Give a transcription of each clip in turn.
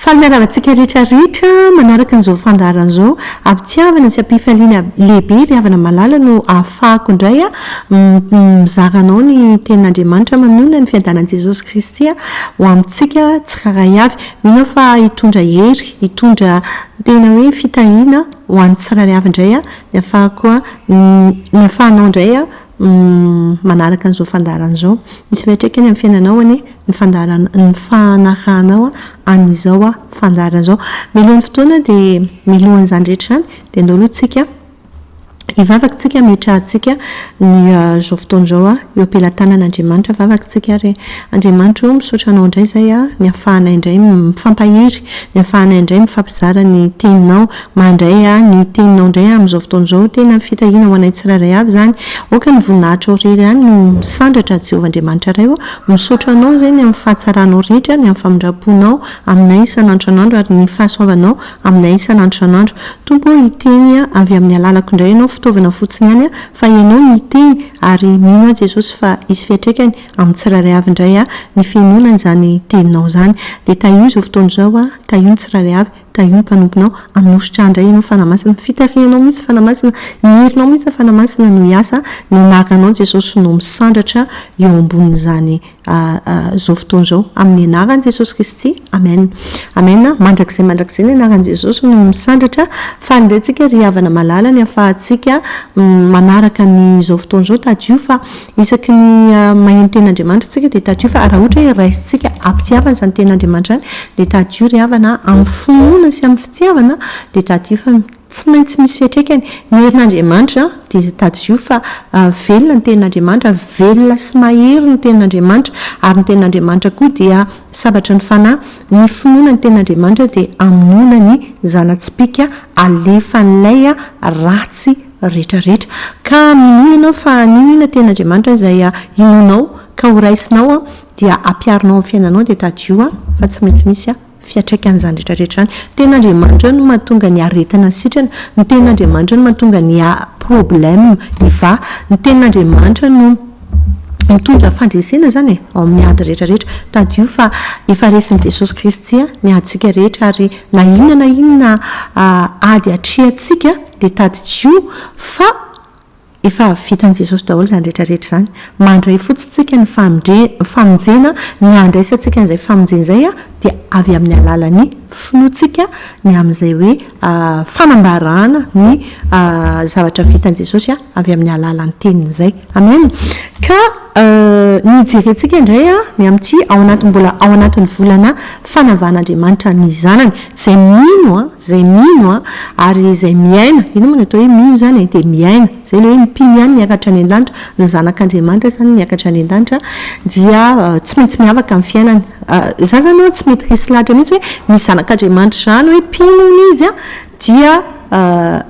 Faly miarahaba antsika rehetra rehetra manaraka an'izao fandaharana izao. Am-pitiavana sy am-pifaliana lehibe ry havana malala no ahafahako indray mizara anao ny tenin'Andriamanitra manoloana ny fiadanan'i Jesosy Kristy ho amintsika tsirairay avy. Mino aho fa hitondra hery, hitondra tena hoe fitahiana ho an'ny tsirairay avy indray ny ahafahako, ny ahafahanao indray manaraka an'izao fandaharana izao. Misy fiantraikany amin'ny fiainanao anie ny fandaharana, ny fanarahanao an'izao fandaharana izao. Mialohan'ny fotoana dia, mialohan'izany rehetra izany dia andao aloha tsika hivavaka tsika hametrahantsika ny izao fotoana izao eo am-pelatanan'Andriamanitra vavaka tsika ary Andriamanitra o, misaotra anao indray izay an, ny ahafahanay indray mifampahery, ny ahafahanay indray mifampizara ny teninao, Mandray ahy ny teninao indray amin'izao fotoana izao. Tena fitahiana ho anay tsirairay avy izany. Aoka ny voninahitrao irery ihany no misandratra, Jehovah Andriamanitra Ray ô. Misaotra anao izay ny amin'ny fahatsaranao rehetra, ny amin'ny famindram-ponao aminay isan'andro isan'andro, ary ny fahasoavanao aminay isan'andro isan'andro. Tompo ô, hiteny avy amin'ny alalako indray ianao, fitaovana fotsiny ihany aho, fa ianao no hiteny, ary mino aho Jesosy fa hisy fiatraikany amin'ny tsirairay avy indray ny fihenoana izany teninao izany. Dia tahio izao fotoana izao aho, tahio ny tsirairay avy. Tahio ny mpanomponao, hanositra ahy indray ianao Fanahy Masina, fitarihanao mihitsy Fanahy Masina, ny herinao mihitsy Fanahy Masina no hiasa, ny anaranao Jesosy no misandratra eo ambonin'izany zao fotoana izao, amin'ny anaran'i Jesosy Kristy, Amen, Amen, mandrakizay mandrakizay ny anaran'i Jesosy no misandratra, faly indray tsika ry havana malala ny ahafahantsika manaraka ny izao fotoana izao, tadidio fa Isaky ny mahay ny tenin'Andriamanitra isika dia tadio fa raha ohatra hoe raisintsika ampitiavana izany tenin'Andriamanitra izany dia tadio ry havana a, amin'ny finoana sy amin'ny fitiavana dia tadio fa tsy maintsy misy fiantraikany ny herin'Andriamanitra dia tadio fa velona ny tenin'Andriamanitra, velona sy mahery ny tenin'Andriamanitra ary ny tenin'Andriamanitra koa dia sabatra ny fanahy, ny finoana ny tenin'Andriamanitra dia hamonoana ny zana-tsipìka alefan'ilay ratsy rehetra rehetra. Ka minoa ianao fa anio iny Tena Andriamanitra izay inoanao ka ho raisinao dia hampiharinao ny fiainanao dia tadidio fa tsy maintsy misy fiatraikany izany rehetra rehetra izany. Ny Tena Andriamanitra no mahatonga ny aretina ny sitrana, ny Tena Andriamanitra no mahatonga ny problème hivaha, ny Tena Andriamanitra no mitondra fandresena izany e, ao amin'ny ady rehetra rehetra. Tadidio fa efa resin'i Jesosy Kristy ny adintsika rehetra ary na inona na inona ady atrehantsika, Dia tadidio fa efa avy vitan'i Jesosy daholo izany rehetra rehetra izany. Mandray fotsiny isika ny famonjena, ny handraisantsika an'izay famonjena izay dia avy amin'ny alalan'ny finoantsika ny amin'izay hoe fanambarana ny zavatra vitan'i Jesosy avy amin'ny alalan'ny teniny izay. Amen. Ka. Ny hijerentsika indray ny amin'ity ao anatin'ny mbola ao anatin'ny volana fanavahan'Andriamanitra ny Zanany. Izay mino, izay mino ary izay miaina, inona moa no atao hoe mino izany e? dia miaina, izay ilay hoe ny mpino ihany miakatra any an-danitra, ny zanak'Andriamanitra izany miakatra any an-danitra dia tsy maintsy miavaka amin'ny fiainany. Izaho izany tsy mety resy lahatra mihitsy hoe misy zanak'Andriamanitra izany hoe mpino hono izy an! dia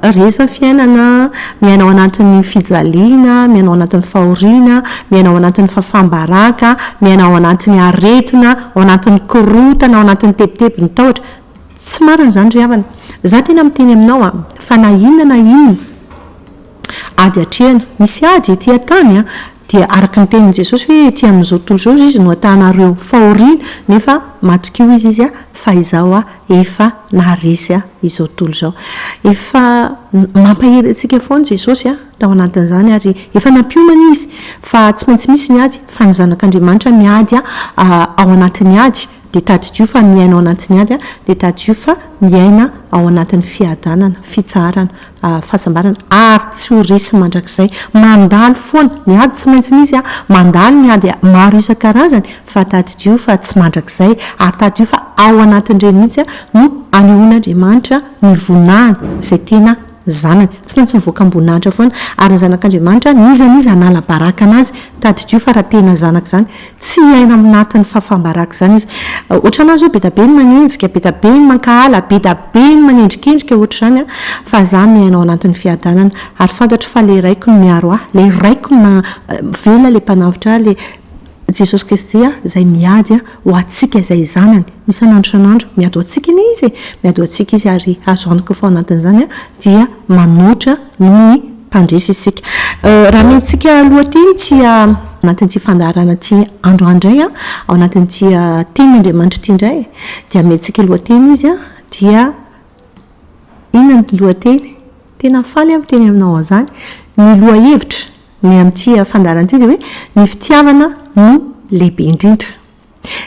resaky ny fiainana miaina ao anatin'ny fijaliana, miaina ao anatin'ny fahoriana, miaina ao anatin'ny fahafam-baraka, miaina ao anatin'ny aretina, ao anatin'ny korontana, ao anatin'ny tebitebin'ny tahotra. Tsy marina izany ry havana. Izaho tena miteny aminao an, fa na inona na inona ady atrehina, misy ady ety an-tany an, Dia araka ny tenin'i Jesosy hoe ety amin'izao tontolo izao izy no hatahanareo fahoriana nefa matokia hoy izy fa izaho efa naharesy izao tontolo izao. Efa mampahery antsika foana Jesosy tao anatin'izany ary efa nampiomana izy fa tsy maintsy misy ny ady fa ny zanak'Andriamanitra miady ao anatin'ny ady dia tadidio fa miaina ao anatin'ny ady dia tadidio fa miaina ao anatin'ny fiadanana, fitsaharana. fahasambarana ary tsy ho resy mandrakizay. Mandalo foana, ny ady tsy maintsy misy an, mandalo ny ady maro isan-karazany fa tadidio fa tsy mandrakizay ary tadidio fa ao anatin'ireny mihitsy no anehoan'Andriamanitra ny voninahiny izay tena zanany. Tsy maintsy mivoaka am-boninahitra foana ary ny zanak'Andriamanitra n'iza n'iza hanala baraka anazy, tadidio fa raha tena zanaka izany, Tsy hiaina ao anatin'ny fahafaham-baraka izany izy. Hoatranà izao, be dia be ny manenjika, be dia be ny mankahala, be dia be ny manendrikendrika hoatr'izany, fa izaho miaina ao anatin'ny fiadanana. Ary fantatro fa ilay Raiko no miaro ahy, ilay Raiko no maha-velona, ilay Mpanavotra ahy, ilay Jesosy Kristy izay miady ho antsika izay Zanany. Isan'andro isan'andro, miady ho antsika anie Izy e! Miady ho antsika Izy, ary azo antoka fa ao anatin'izany aho dia manoatra noho ny. mpandresy isika. Raha miantsika aloha aty ity ao anatin'ity fandaharana ity andro indray an, ao anatin'ity tenin' Andriamanitra ity indray, dia miantsika lohateny izy an, dia inona ny lohateny? Tena faly aho miteny aminao an'izany. Ny lohahevitra ny amin'ity fandaharana ity dia hoe, ny fitiavana no lehibe indrindra.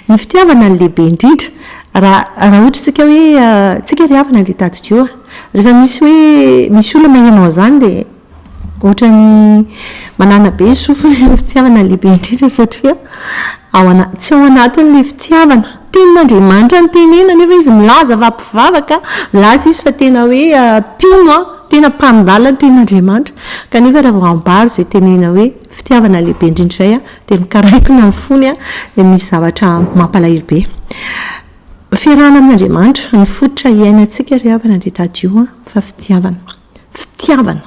Ny fitiavana no lehibe indrindra. Raha, raha ohatra isika hoe tsika ry havana dia tadidio a! Rehefa misy hoe, misy olona maheno an'izany dia ohatran'ny manana be ny sofiny hoe ny fitiavana no lehibe indrindra satria ao ana- tsy ao anatiny ilay fitiavana. Tenin'Andriamanitra no tenenina nefa izy milaza fa mpivavaka, milaza izy fa tena hoe mpino an, tena mpandala ny tenin'Andriamanitra. Kanefa raha vao ambara izay tenenina hoe fitiavana lehibe indrindra izay an, dia mikaraikona ny fony an, dia misy zavatra mampalahelo be. Fiarahana amin' Andriamanitra, ny fototra hiainantsika ry havana dia tadidio an, fa fitiavana. Fitiavana.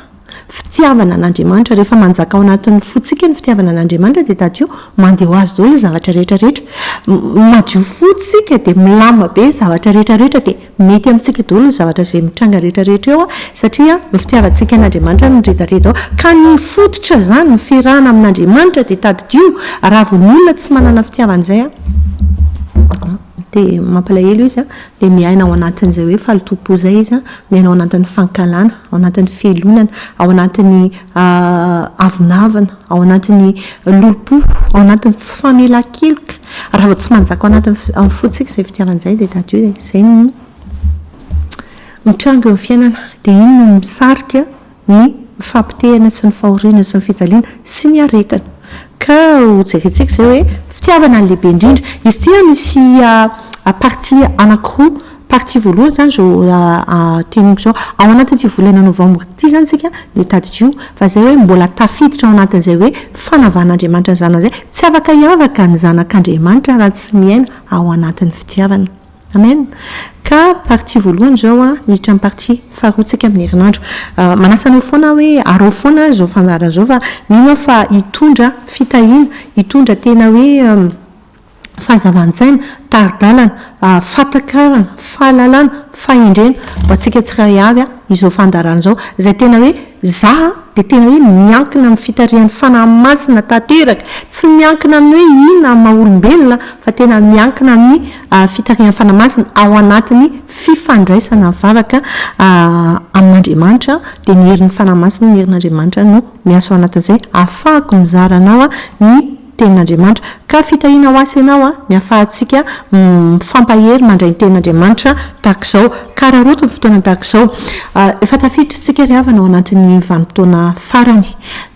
Fitiavana an' Andriamanitra. Rehefa manjaka ao anatin' ny fontsika ny fitiavana an' Andriamanitra dia tadidio mandeha ho azy daholo ny zavatra rehetra rehetra. Madio fo isika dia milamina be ny zavatra rehetra rehetra dia Mety amintsika daholo ny zavatra izay mitranga rehetra rehetra eo satria ny fitiavantsika an'Andriamanitra no miredareda ao ka ny fototra izany, ny fiarahana amin'Andriamanitra dia tadidio raha vao ny olona tsy manana fitiavana izay dia mampalahelo izy dia miaina ao anatin'izay hoe fahalotoam-po izay izy, miaina ao anatin'ny fankahalana, ao anatin'ny fialonana, ao anatin'ny avonavona, ao anatin'ny lolompo, ao anatin'ny tsy famelan-keloka. Raha vao tsy manjaka ao anaty amin'ny fontsika izay fitiavana izay dia d'adieu dia izay no mitranga eo amin'ny fiainana. Dia iny no misarika ny fampitehana sy ny fahoriana sy ny fijaliana sy ny aretina. Ka ho jerentsika izay hoe fitiavana no lehibe indrindra. Izy ity an misy partie anakiroa. Partie voalohany izany izao teneniko izao. Ao anatin'ity volana novambra ity izany isika dia tadidio fa izay hoe mbola tafiditra ao anatin'izay hoe fanavan'Andriamanitra ny zanany izay. Tsy afaka hiavaka ny zanak'Andriamanitra raha tsy miaina ao anatin'ny fitiavana. Amen. Ka partie voalohany izao an, miditra amin'ny partie faharoa tsika amin'ny herinandro. Manasa anao foana aho hoe arao foana ary izao fandaharana izao fa mino aho fa hitondra fitahiana, hitondra tena hoe fahazavan-tsaina, tari-dalana, fahatakarana, fahalalana, fahendrena ho antsika tsiray avy izao fandaharana izao izay tena hoe za dia tena hoe miankina amin'ny fitarihan'ny Fanahy Masina tanteraka, tsy miankina amin'ny hoe inona amin'ny maha olombelona fa tena miankina amin'ny fitarihan'ny Fanahy Masina ao anatin'ny fifandraisana mivavaka amin'Andriamanitra dia ny herin'ny Fanahy Masina, ny herin'Andriamanitra no miasa ao anatin'izay hahafahako mizara anao ny Tenin'Andriamanitra. Ka fitahiana ho ahy sy ianao ny ahafahantsika mifampahery mandray ny Tenin'Andriamanitra tahaka izao. Ka hararaoty ny fotoana tahaka izao. Efa tafiditra isika ry havana ao anatin'ny vanim-potoana farany.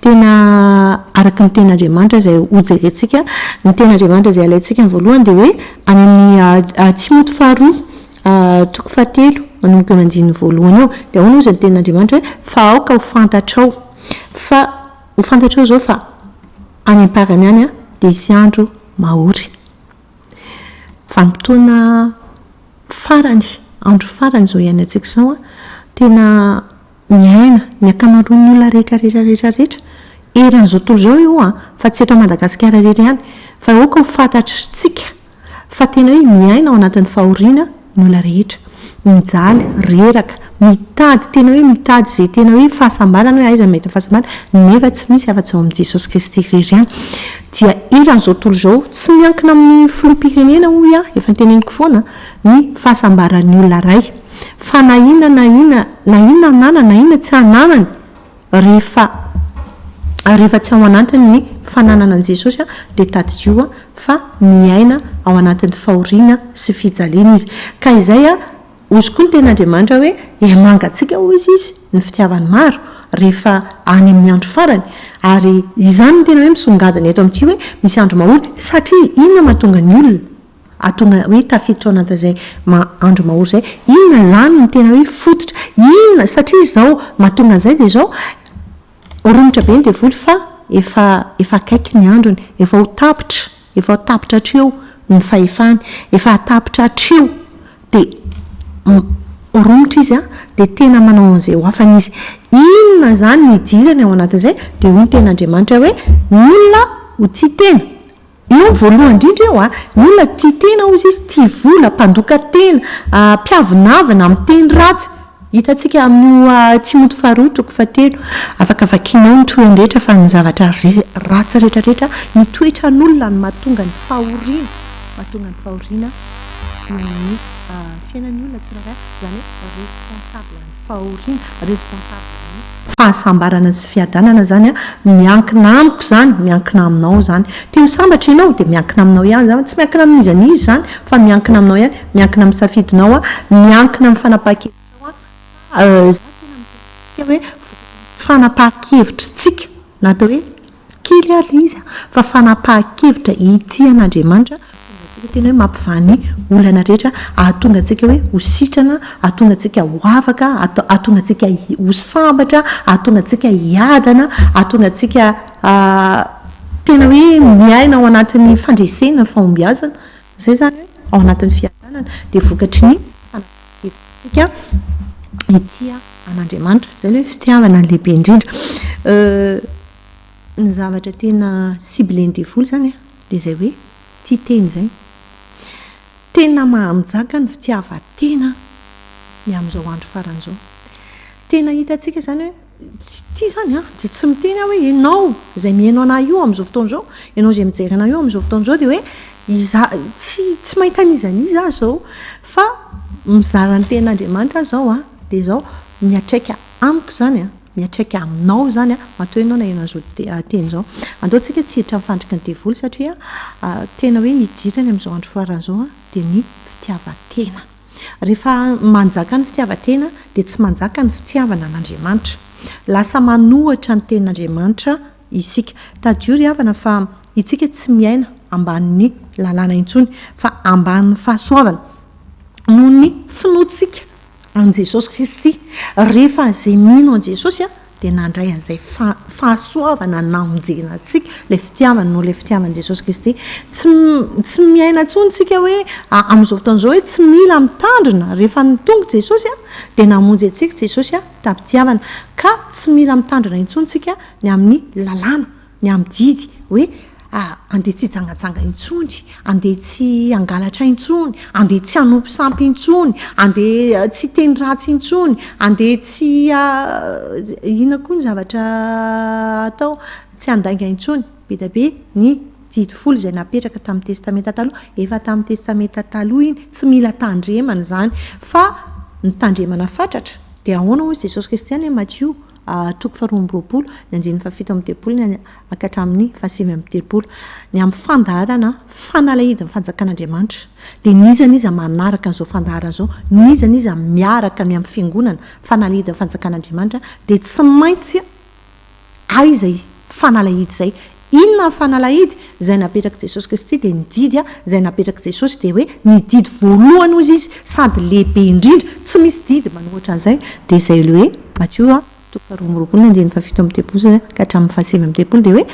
Tena araka ny Tenin'Andriamanitra izay hojerentsika. Ny Tenin'Andriamanitra izay alaintsika amin'ny voalohany dia hoe any amin'ny Timoty faharoa toko fahatelo manomboka eo amin'ny andininy voalohany eo. Dia ahoana hozy ny Tenin'Andriamanitra hoe, fa aoka ho fantatrao. Fa ho fantatrao izao fa. Any am-parany any dia hisy andro mahory. Vanim-potoana farany, andro farany izao iainantsika izao. Tena miaina ny ankamaroan'ny olona rehetra rehetra rehetra rehetra eran'izao tontolo izao io fa tsy eto Madagasikara irery ihany. Fa aoka ho fantatr'isika fa tena hoe miaina ao anatin'ny fahoriana ny olona rehetra. Mijaly, reraka, mitady tena hoe mitady izay tena hoe fahasambarana hoe aiza no mahita fahasambarana nefa tsy misy afa-tsy ao amin'i Jesosy Kristy irery ihany. Dia eran'izao tontolo izao, tsy miankina amin'ny filoham-pirenena hoy aho, efa noteneniko foana, ny fahasambaran'ny olona iray. Fa na inona na inona, na inona ananany na inona tsy ananany, Rehefa rehefa tsy ao anatiny ny fananana an'i Jesosy dia tadidio fa miaina ao anatin'ny fahoriana sy fijaliana izy. Ka izay hozy koa ny tenin'Andriamanitra hoe hiamangatsika hozy izy ny fitiavany maro rehefa any amin'ny andro farany. Ary izany no tena hoe misongadina eto amintsika hoe misy andro mahory satria inona mahatonga ny olona? Atonga hoe tafiditra ao anatin'izay andro mahory izay. Inona izany no tena hoe fototra? Inona? Satria izao mahatonga an'izay dia izao, romotra be ny devoly fa efa efa akaiky ny androny. Efa ho tapitra, efa ho tapitra hatreo ny fahefany. Efa hahatapitra hatreo. Dia romotra izy an, dia tena manao an'izay ho afany izy. Inona izany no idirany ao anatin'izay? Dia hoy ny tenin'Andriamanitra hoe, ny olona ho tia tena. Eo voalohany indrindra eo a, ny olona tia tena hozy izy, tia vola, mpandoka tena, mpiavonavona, miteny ratsy. Hitantsika amin'io Timoty faharoa toko fahatelo. Afaka vakianao ny tohiny rehetra fa ny zavatra ratsy rehetra rehetra, ny toetran'olona no mahatonga ny fahoriana, mahatonga ny fahoriana eo amin'ny fiainan'ny olona tsirairay, izany hoe responsable ny. fahoriana, responsable ny fahasambarana sy fiadanana zany miankina amiko zany, miankina aminao zany, te ho sambatra ianao dia miankina aminao ihany zany, tsy miankina amin'iza n'iza zany fa miankina aminao ihany, miankina amin'ny safidinao an, miankina amin'ny fanapahan-kevitrao an, fa za tena miteraka antsika hoe vokatry ny fanapahan-kevitritsika na atao hoe. Kely ary ilay izy an! Fa fanapahan-kevitra ity an Andriamanitra hahatonga antsika tena hoe mampivaha ny olana rehetra, hahatonga antsika hoe ho sitrana, hahatonga antsika ho afaka, hahatonga antsika ho sambatra, hahatonga antsika hiadana, hahatonga antsika tena hoe miaina ao anatin'ny fandresena, fahombiazana. Izay izany hoe ao anatin'ny fiadanana. Dia vokatry ny fanapahan-kevitra. Hevitrintsika hitia an'Andriamanitra. Izay aloha ny fitiavana lehibe indrindra. Ny zavatra tena cible-n'ny devoly izany an, dia izay hoe tia tena izay. Tena maham-jaka ny fitiavan-tena ny amin'izao andro farany izao. Tena hitantsika izany hoe Ity izany an, dia tsy miteny aho hoe ianao izay mihaino anah io amin'izao fotoana izao, ianao izay mijery anah io amin'izao fotoana izao dia hoe izaho, tsy tsy mahita an'iza an'iza aho izao fa mizara ny tenin'Andriamanitra aho izao an, dia izao, miatraika amiko izany an, miatraika aminao izany an, matoa ianao naheno an'izao teny izao. Andao tsika tsy hiditra amin'ny fandriky ny devoly satria tena hoe hidirany amin'izao andro farany izao dia ny fitiavan-tena. Rehefa manjaka ny fitiavan-tena dia tsy manjaka ny fitiavana an'Andriamanitra. Lasa manohitra ny tenin'Andriamanitra isika. Tadidio ry havana fa itsika tsy miaina ambanin'ny lalàna intsony fa ambanin'ny fahasoavana noho ny finoantsika an'i Jesosy Kristy. Rehefa izay mino an'i Jesosy dia nandray an'izay fahasoavana namonjena antsika, ilay fitiavany noho ilay fitiavan'i Jesosy Kristy. Tsy tsy miaina intsony tsika hoe amin'izao fotoana izao hoe tsy mila mitandrina rehefa nitongy Jesosy an, dia namonjy antsika Jesosy an, tamin'ny fitiavana. Ka tsy mila mitandrina intsony tsika ny amin'ny lalàna. Ny amin'ny didy hoe andeha tsy hijangajanga intsony, andeha tsy hangalatra intsony, andeha tsy hanompo sampy intsony, andeha tsy hiteny ratsy intsony, andeha tsy inona koa ny zavatra atao, tsy handainga intsony. Be dia be ny didy folo izay napetraka tamin'ny Testamenta Taloha. Efa tamin'ny Testamenta Taloha iny, tsy mila tandremana izany. Fa ny tandremana fatratra dia ahoana hoy Jesosy Kristy any amin'i Matio? Toko faharoa amby roapolo, ny andininy fahafito amby telopolo ny any ka hatramin'ny fahasivy amby telopolo. Ny amin'ny fandaharana fanalahidin'ny fanjakan'Andriamanitra. Dia n'iza n'iza manaraka an'izao fandaharana izao, n'iza n'iza miaraka ny amin'ny fiangonana, fanalahidin'ny fanjakan'Andriamanitra, dia tsy maintsy aiza i fanalahidy izay, Inona ny fanalahidy? Izay napetrak'i Jesosy Kristy dia ny didy izay napetrak'i Jesosy dia hoe ny didy voalohany hozy izy sady lehibe indrindra, tsy misy didy manohitra an'izay, dia izay le hoe Matio toko faharoa amby roapolo ny andininy fahafito amby telopolo ka hatramin'ny fahasivy amby telopolo dia hoe,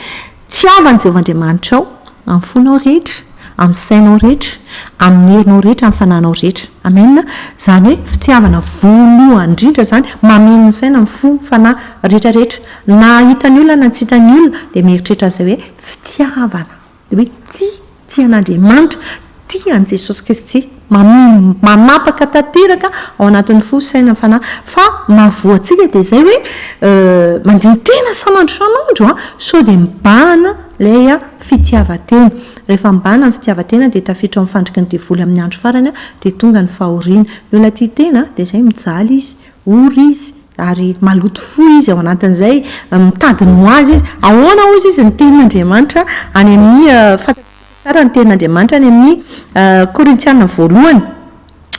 Tsy hava an'i Jehovah Andriamanitrao amin'ny fonao rehetra. Amin'ny sainao rehetra, amin'ny herinao rehetra, amin'ny fananao rehetra. Amena. Izany hoe fitiavana voalohany indrindra izany, mameno ny saina, ny fo, ny fanahy, rehetra rehetra. Na hita ny olona na tsy hita ny olona dia mieritreritra an'izay hoe fitiavana. Dia hoe tia, tia an'Andriamanitra, tia an'i Jesosy Kristy. Mamimby, manapaka tanteraka ao anatin'ny fo, saina, fanahy. Fa ny mahavoa antsika dia izay hoe mandini-tena sanandro sanandro sao dia mibahana ilay fitiavan-tena. Rehefa mibahana ny fitiavan-tena dia tafiditra ao amin'ny fandriky ny devoly amin'ny andro farany dia tonga ny fahoriana. Ny olona tia tena dia izay mijaly izy, ory izy, ary maloto fo izy ao anatin'izay, mitady ny ho azy izy. Ahoana hozy izy ny tenin'Andriamanitra any amin'ny fahatratra? Tsara ny tenin'Andriamanitra any amin'ny Korintiana voalohany.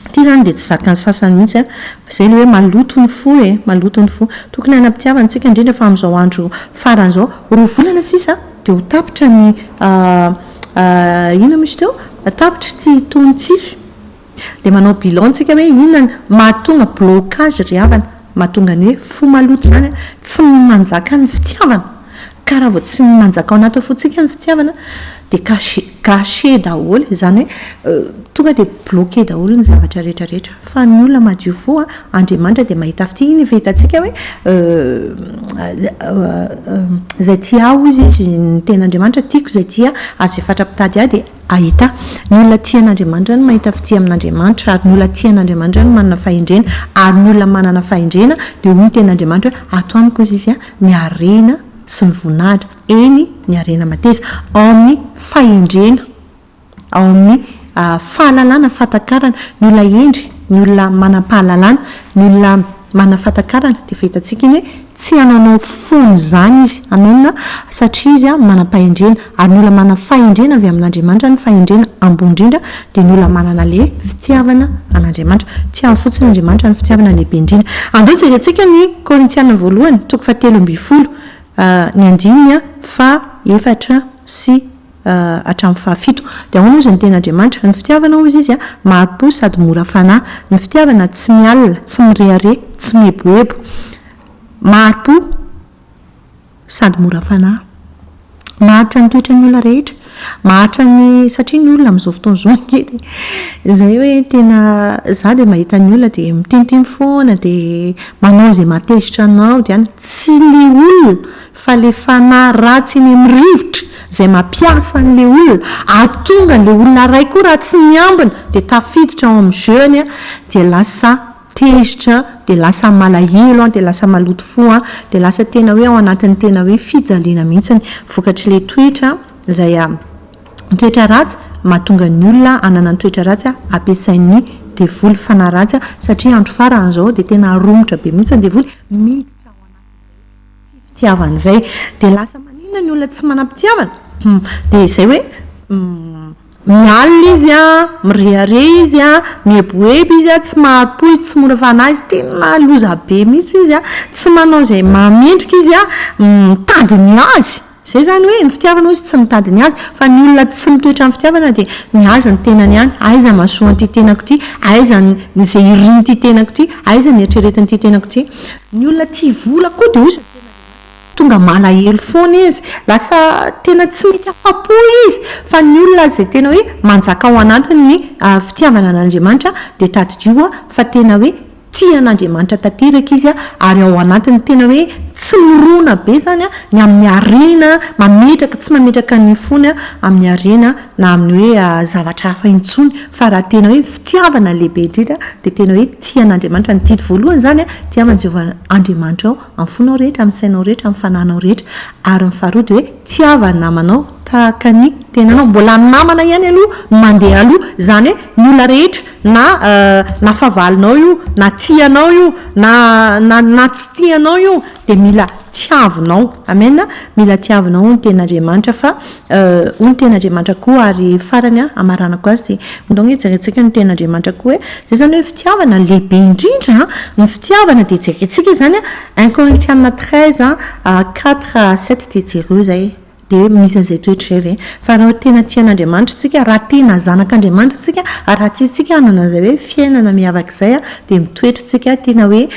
Ity izany dia tsy zakan'ny sasany mihitsy an! Izay ilay hoe maloto ny fo e! Maloto ny fo. Tokony hanam-pitiavana antsika indrindra fa amin'izao andro farany izao. Roa volana sisa dia ho tapitra ny inona moa izy teo? Tapitra ity taona ity. Dia manao bilan tsika hoe inona no mahatonga blocage ry havana, mahatonga ny hoe fo maloto izany an, tsy manjaka ny fitiavana, ka raha vao tsy manjaka ao anaty fontsika ny fitiavana dia cache, gâché daholo, izany hoe tonga dia bloqué daholo ny zavatra rehetra rehetra, fa ny olona madio fo an, Andriamanitra dia mahita fitia, iny efa hitantsika hoe izay tia ahy hoy izy, ny tenin'Andriamanitra, tiako izay tia ahy, ary izay fatra-pitady ahy dia Ahita, Ny olona tia an'Andriamanitra no mahita fitia amin'Andriamanitra, ary ny olona tia an'Andriamanitra no manana fahendrena, ary ny olona manana fahendrena, dia hoy ny tenin'Andriamanitra hoe, Ato amiko izy izy, ny harena sy ny voninahitra, eny, ny harena mateza, ao amin'ny fahendrena, ao amin'ny fahalalana, fahatakarana, ny olona hendry, ny olona manam-pahalalana, ny olona. Manana fahatakarana dia fahitantsika iny hoe tsy hanaonao foana izany izy. Amen a! Satria izy manam-pahendrena. Ary ny olona manana fahendrena avy amin'Andriamanitra, ny fahendrena ambony indrindra dia ny olona manana le fitiavana an'Andriamanitra. Tiavo fotsiny Andriamanitra, ny fitiavana lehibe indrindra. Andao jerentsika ny Korintiana voalohany toko fahatelo ambin'ny folo, ny andininy faha efatra sy. hatramin'ny fahafito. Dia ahoana hozy ny tena Andriamanitra? Ny fitiavana hozy Izy, maha-po sady mora fanahy. Ny fitiavana tsy mialona, tsy mirehareha, tsy mieboebo. Maha-po sady mora fanahy. Maharitra ny toetran'ny olona rehetra. Maharitra ny, satria ny olona amin'izao fotoana izao anie dia izay hoe tena, izaho dia mahita ny olona dia miteniteny foana dia manao izay mahatezitra anao dia any. Tsy ny olona fa le fanahy ratsy eny am rivotra zay mampiasa an le olona ahatonga an le olona ray koa raha tsy miambina dia tafiditra ao am jeu ny an dia lasa tezitra an dia lasa malahelo an dia lasa maloto fo an dia lasa tena hoe ao anatin tena hoe fijaliana mihitsy ny vokatry le toetra zay an toetra ratsy mahatonga ny olona hanana ny toetra ratsy an ampiasain ny devoly fanahy ratsy an satria andro faran zao dia tena romotra be mihitsy ny devoly miditra ao anatin tsy fitiavana izay dia lasa maninona ny olona tsy manam-pitiavana? dia izay hoe mialona izy a, mirehareha izy a, mieboebo izy a, tsy mahari-po izy, tsy mora fanahy izy, tena loza be mihitsy izy a, tsy manao izay mahamendrika izy a, mitady ny azy. Izay izany hoe ny fitiavana hozy tsy mitady ny azy, fa ny olona tsy mitoetra amin'ny fitiavana dia ny azy ny tenany ihany, aiza ny mahasoan'ity tenako ity, aiza ny izay irin'ity tenako ity, aiza ny eritreretin'ity tenako ity. Ny olona tia vola koa dia hozy ny tenan'Andriamanitra, tonga malahelo foana izy, lasa tena tsy mety afa-po izy, fa ny olona izay tena hoe manjaka ao anatiny ny fitiavana an'Andriamanitra dia tadidio fa tena hoe Tia an'Andriamanitra tanteraka izy ary ao anatin'ny tena hoe tsy mirona be izany ny amin'ny harena, mametraka, tsy mametraka ny fony amin'ny harena na amin'ny hoe zavatra hafa intsony fa raha tena hoe fitiavana lehibe indrindra dia tena hoe tia an'Andriamanitra, ny didy voalohany izany tia an'i Jehovah Andriamanitrao amin'ny fonao rehetra, amin'ny sainao rehetra, amin'ny fananao rehetra ary ny faharoa dia hoe tiava ny namanao. Tahaka ny tenanao mbola namana ihany aloha no mandeha aloha, izany hoe ny olona rehetra na na fahavalonao io, na tianao io, na na na tsy tianao io dia mila tiavinao. Amen a! Mila tiavinao hono Tenin'Andriamanitra fa hono Tenin'Andriamanitra koa ary farany an, hamaranako azy dia ndao hoe jerentsika ny Tenin'Andriamanitra koa hoe, izay izany hoe fitiavana ny lehibe indrindra an, ny fitiavana dia jerentsika izany an, un Korintiana treize an, quatre à sept dia jereo izay e. Dia hoe misy an'izay toetra izay ve? Fa raha tena tia an'Andriamanitra isika, raha tena zanak'Andriamanitra isika, ary raha tiantsika hanana an'izay hoe fiainana miavaka izay, dia mitoetra isika tena hoe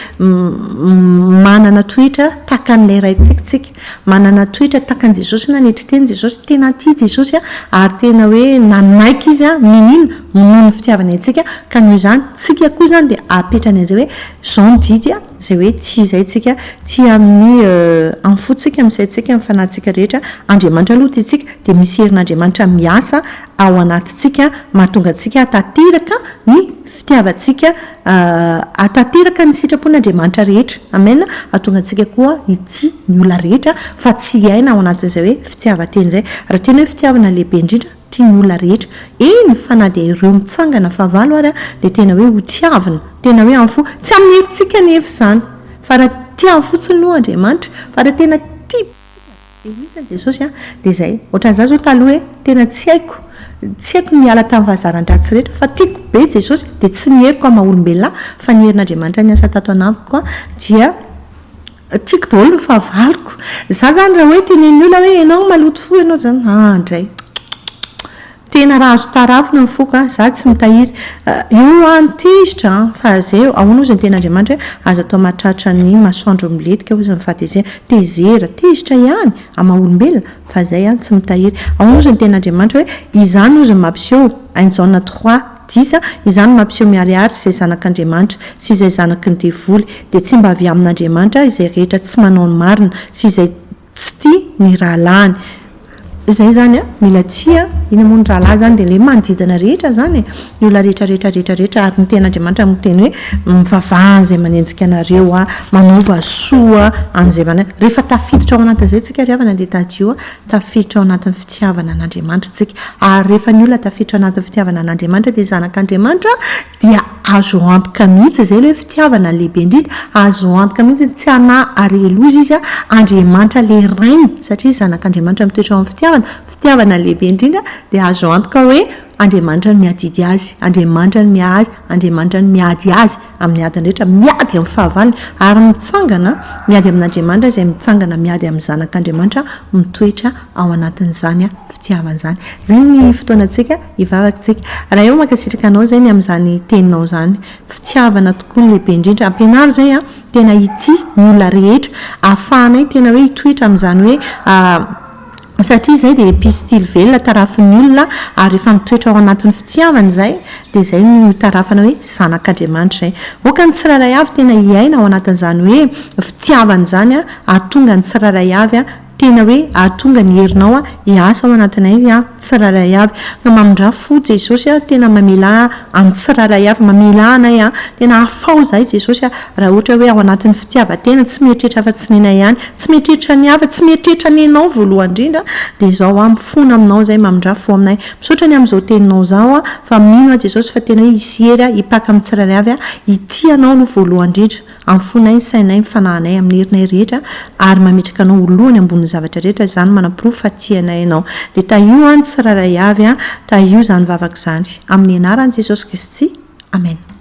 manana toetra tahaka an'ilay Raintsika isika. Manana toetra tahaka an'i Jesosy na ny toetran'i Jesosy. Tena tia Jesosy ary tena hoe nanaiky Izy niniana noho ny fitiavany antsika, ka noho izany tsika koa izany dia apetrany an'izay hoe izao ny didy, izay hoe tia izay tsika, tia amin'ny amin'ny fontsika, amin'ny saintsika, amin'ny fanahintsika rehetra, Andriamanitra aloha tiantsika, dia misy herin'Andriamanitra miasa ao anatintsika mahatonga antsika hahatanteraka ny fitiavantsika hahatanteraka ny sitrapon'Andriamanitra rehetra, amen, hahatonga antsika koa hitia ny olona rehetra fa tsy hiaina ao anatin'izay hoe fitiavan-tena izay, raha tena hoe fitiavana lehibe indrindra, tian'ny olona rehetra, eny fa na dia ireo mitsangana fahavalo ary dia tena hoe hotiavina, tena hoe amin'ny fo, tsy amin'ny herintsika anefa izany, fa raha tiany fotsiny aloha Andriamanitra, fa raha tena tia be isika dia hoy isany Jesosy an, dia izay, ohatran'ny za zao taloha hoe tena tsy haiko, tsy haiko ny miala tamin'ny fahazaran-dratsy rehetra, fa tiako be Jesosy, dia tsy ny heriko amin'ny maha olombelona ahy, fa ny herin'Andriamanitra niasa tato anamiko dia Tiako daholo ny fahavaloko. Za zany raha hoe tenenin'ny olona hoe enao maloto fo enao zany ah ndray. Tena raha azo tarafina ny foko an, za tsy mitahiry. Io an ny tezitra an, fa zay eo. Ahoana ozy ny tenin'Andriamanitra hoe aza atao mahatratra ny masoandro milentika ozy ny fahatezerana. Tezera, tezitra ihany an maha olombelona fa zay an tsy mitahiry. Ahoana ozy ny tenin'Andriamanitra hoe izany ozy no mampiseho, Hainjaona trois. Disa, izany mampiseho miharihary izay zanak'Andriamanitra sy izay zanaky ny devoly, dia tsy mba avy amin'Andriamanitra izay rehetra tsy manao ny marina sy izay tsy tia ny rahalahiny. Izay izany a, mila tia ina moa ny rahalahy izany dia ilay manodidina rehetra izany e, ny olona rehetra rehetra rehetra rehetra ary ny tenin'Andriamanitra no miteny hoe mivavaha an'izay manenjika anareo a, manaova soa an'izay manaiky, rehefa tafiditra ao anatin'izay tsika ry havana dia tadidio Tafiditra ao anatin'ny fitiavana an'Andriamanitra isika. Ary rehefa ny olona tafiditra ao anatin'ny fitiavana an'Andriamanitra dia zanak'Andriamanitra dia azo antoka mihitsy izay ilay hoe fitiavana lehibe indrindra. Azo antoka mihitsy ny tsy hanahy ary heloza izy, Andriamanitra ilay Rainy, satria zanak'Andriamanitra mitoetra ao amin'ny fitiavana. Fitiavana lehibe indrindra dia azo antoka hoe Andriamanitra no miadidy azy, Andriamanitra no miahy azy, Andriamanitra no miady azy. amin'ny adiny rehetra, miady amin'ny fahavalony, ary mitsangana miady amin'Andriamanitra izay mitsangana miady amin'ny zanak'Andriamanitra mitoetra ao anatin'izany fitiavana izany. Izay ny fotoanantsika hivavaktsika. Rahaeo mankasitraka anao izay ny amin'izany teninao izany. Fitiavana tokoa no lehibe indrindra. Ampianaro izay an, tena hitia ny olona rehetra. Ahafahanay tena hoe hitoetra amin'izany hoe. satria izay dia pistily velona tarafin'ny olona ary rehefa mitoetra ao anatin'ny fitiavana izay dia izay no itarafana hoe zanak'Andriamanitra izay. Aoka ny tsirairay avy tena hiaina ao anatin'izany hoe fitiavana izany ahatonga ny tsirairay avy tena hoe ahatonga ny herinao hiasa ao anatinay Tsirairay avy. Ka mamindrà fo Jesosy a, tena mamela an'ny tsirairay avy, mamela anay a, tena afaho zahay Jesosy a, raha ohatra hoe ao anatin'ny fitiavan-tena, tsy mieritreritra afa-tsy nenay ihany, tsy mieritreritra ny hafa, tsy mieritreritra nenao voalohany indrindra, dia izao aho mifona aminao izay, mamindrà fo aminay. Misaotra ny amin'izao teninao izao a, fa mino aho Jesosy fa tena hoe hisy hery a, hipaka amin'ny tsirairay avy a, hitia anao aloha voalohany indrindra. amin'ny fonay, ny sainay, ny fanahinay, amin'ny herinay rehetra, ary mametraka Anao ho lohany ambonin'ny zavatra rehetra, izany manaporofo fa tia anay Ianao. Dia tahio an, tsirairay avy an, tahio izany vavaka izany. Amin'ny Anaran'i Jesosy Kristy. Amena.